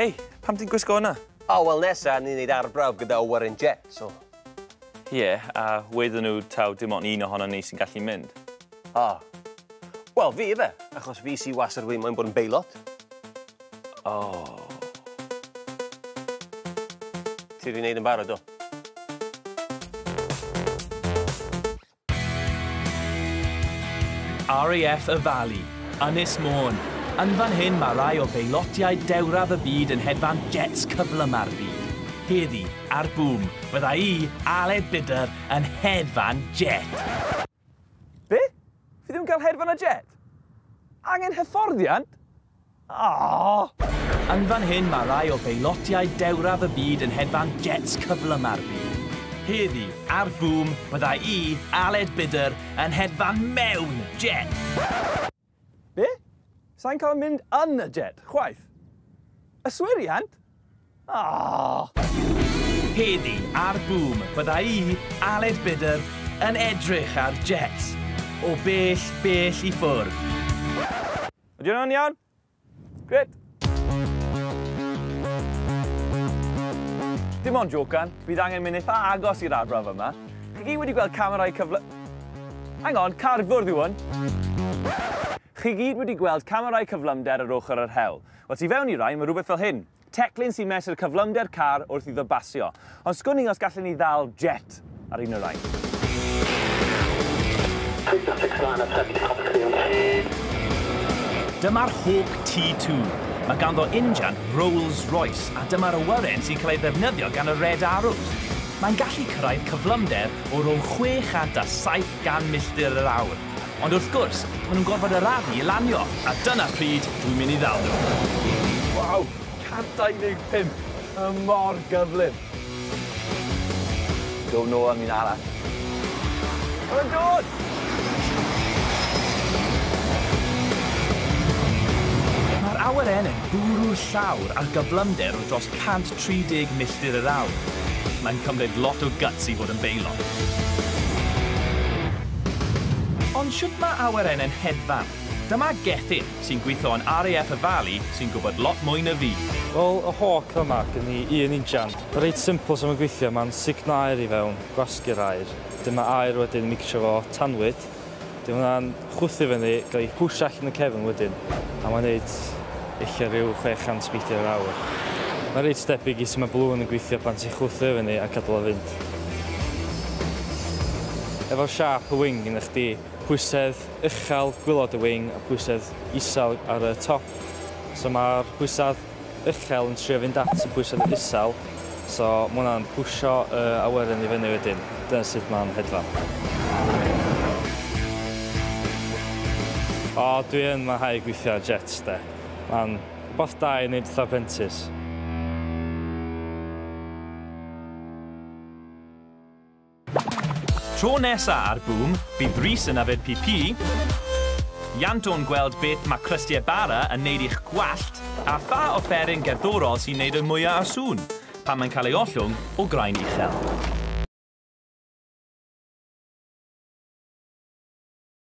Hei, pam ti'n gwisgo hwnna? O, oh, wel nesa, ni'n neud arbrawf gyda Warren Jet, so... Ie, yeah, a weithio nhw taw dim ond un ohono ni sy'n gallu mynd. O. Oh. Wel, fi efe, achos fi si was yr wy'n moyn bod yn beilot. Oh. Ti wedi wneud yn barod do? RAF y Fali, Ynys Môn. Yn fan hyn mae rai o beilotiau dewraf y byd yn hedfan jets cyflyma'r byd. Heddi, ar Bŵm, fydda i, Aled Bidder, yn hedfan jet. Be? Fi ddim yn cael hedfan a jet? Angen hyfforddiant? Aww! Yn fan hyn mae rai o beilotiaid dewraf y byd yn hedfan jets cyflym ar fy. Heddi, ar Bŵm, byddai i, Aled Bydr, yn hedfan mewn jet! Be? Sai'n cael mynd yn y jet, chwaith. Yswiriant? Aww! Heddi ar Boom bydda i, Aled Bidder, yn edrych ar jets o bell, bell i ffwrdd. Ydy hwnna'n iawn? Grêt! Dim ond jocan, bydd angen mynd eitha agos i'r arbrawf yma. Chi gyd wedi gweld camerâu cyfle... Hang on, cardfwrdd yw hwn! Chi gyd wedi gweld camerâu cyflymder ar ochr yr hewl. Wel, tu fewn i rai, mae rhywbeth fel hyn. Teclyn sy'n mesur cyflymder car wrth iddo basio. Ond sgwn i os gallen ni ddal jet ar un o'r rhain. Dyma'r Hawk T2. Mae ganddo injan Rolls Royce a dyma'r awyren sy'n cael ei ddefnyddio gan y Red Arrows. Mae'n gallu cyrraedd cyflymder o rownd 670 milltir yr awr. Ond wrth gwrs, maen nhw'n gorfod arafu i lanio, a dyna pryd dw i'n mynd i ddal nhw. Waw! 125! Mae o mor gyflym! Dw i'n ôl am un arall. Maen nhw'n dod! Mae'r awyren yn bwrw llawr ar gyflymder o dros 130 milltir yr awr. Mae'n cymryd lot o guts i fod yn beilot. Ond shwt mae awyrennau'n hedfan? Dyma Gethin, sy'n gweithio yn RAF y Fali, sy'n gwybod lot mwy na fi. Wel, y hawk yma, gen i un injan. Reit simpl sut mae'n gweithio, mae'n sugno aer i fewn, gwasgu'r aer. Wedyn mae aer wedyn yn micsio efo tanwydd, Dyw hwnna'n chwythu fyny, gael ei pwsio allan y cefn wedyn, a mae'n wneud ella rhyw 600 sbeidar yr awr. Mae'n reit debyg i sut mae balŵn yn gweithio pan ti'n chwythu o fyny a cadw o fynd. Efo'r siâp y wing gennych chdi, pwysedd uchel gwilod y wing a pwysedd isel ar y top, so mae'r pwysedd uchel yn trio fynd at y pwysedd isel, so ma' hwnna'n pwsio y awyren i fyny wedyn. Dyna sut ma'n hedfan. O dwi yn mwynhau gwithio ar jets de. Ma'n wbath da i neud fatha prentis. Tro nesa ar Boom, bydd Rhys yn yfed PP, Ianto'n gweld beth mae crystie bara yn neud i'ch gwallt, a pha offeryn gerddorol sy'n neud y mwya o sŵn pan mae'n cael ei ollwng o graen uchel.